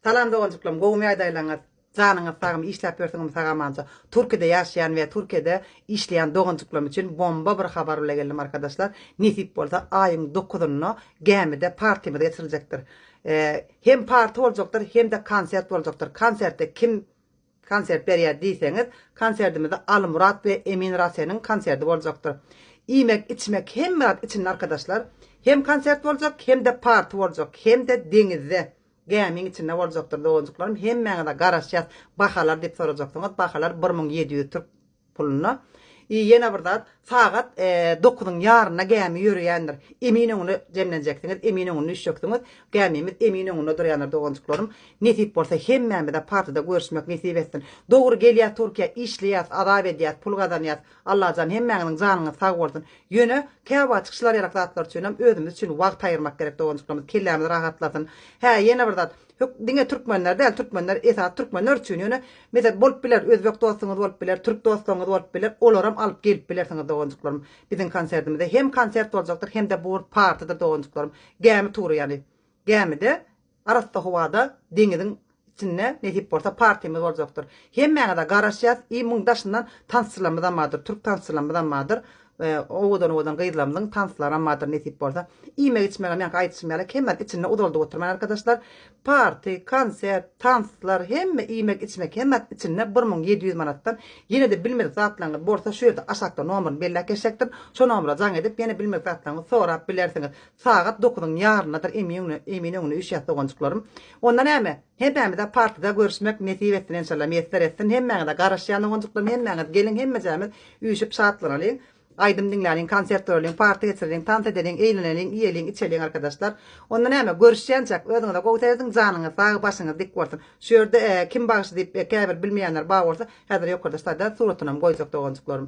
Salam doganjyklarim gowumy ýagdaýlaryňyz janyňyz sagmy işläp ýörsiňizmi sagamança Türkide ýaşaýan we Türkide işleýän doganjyklarim üçin bomba bir habar bile geldim arkadaşlar nesip bolsa aýyň dokuzynda gämide partimiz geçiriljekdir hem parti boljakdyr hemde konsert boljakdyr konserte kim konsert berýär diýseňiz konserdimizde Almyrat we Emin Raseniň konserdi boljakdyr iýmek içmek hemme zat içinde arkadaşlar hem konsert boljak hemde parti boljak hemde deňizde Gämiň içinde boljakdyr doganjyklarym hemmäňize garaşýas bahalar diýip sorajaksyňyz bahalar bir müň ýedi ýüz türk puluna i ýene bir zat sagat dokuzyň ýarynda gämi ýöreýändir emin öňüne jemlenjeksiňiz emin öňüne düşjeksiňiz gämimiz emin öňünde durýandyr doganjyklarym nesip bolsa hemmämize partyda görüşmek nesip etsin dogry gelýä turkiýa işleýäs azap edýäs pul gazanýas Allajan hemmäňiziň janyňyz sag bolsun. Ýöne käwaçyk şylaryýalak zatlar üçinem özümiz üçin wagt aýyrmak gerek doganjyklarymyz kellämiz rahatlasyn. Hä ýene bir zat Hök diňe türkmenler däl türkmenler esasy türkmenler üçin ýöne meset bolup biler özbek dostuňyz bolup biler türk dostlaňyz bolup biler olaram alyp gelip bilersiňiz doganjyklarym biziň konsertimize hem konsert boljakdyr hem-de bur partydyr doganjyklarym gämi tury ýany gämide Arassa howada deňiziň içinde nesip bolsa partimiz boljakdyr. Hemmäňize garaşýas i muň daşyndan tansçylarymyzam bardyr, türk tansçylarymyzam bardyr. Owadan owadan gyzlarymyzyň tanslaram bardyr nesip bolsa. Iýmek içmegem ýaňky aýdyşym ýaly kemden içinde uzaldyp oturman arkadaşlar. Parti, konsert, tanslar hemme iýmek içmek hemmasi içinde bir muň ýedi ýüz manatdan. Ýenede bilmedik zatlaryňyz bolsa şu ýerde aşakda nomerini belläp geçjekdim. Şo nomera jaň edip ýene bilmedik zatlaryňyzy sorap bilersiňiz. Sagat dokuzyň ýaryndadyr emin öňüne üýşýäs doganjyklarym. Onda näme? Hemmämize partyda görüşmek nesip etsin enşalla miýesser etsin hemmäňize garaşýan doganjyklarym hemmäňiz geliň hemmejämiz üýşüp şatlanaliň aýdym diňläliň konsert göreliň party geçireliň tans edeliň eýleneliň iýeliň içeliň arkadaşlar onda näme görüşýänçäk özüňize gowy serediň janyňyz sag başyňyz dik bolsun şu ýerde kim bagşy diýip käbir bilmeýänler bar bolsa häzir ýokarda staýda suratynam goýjak doganjyklarym.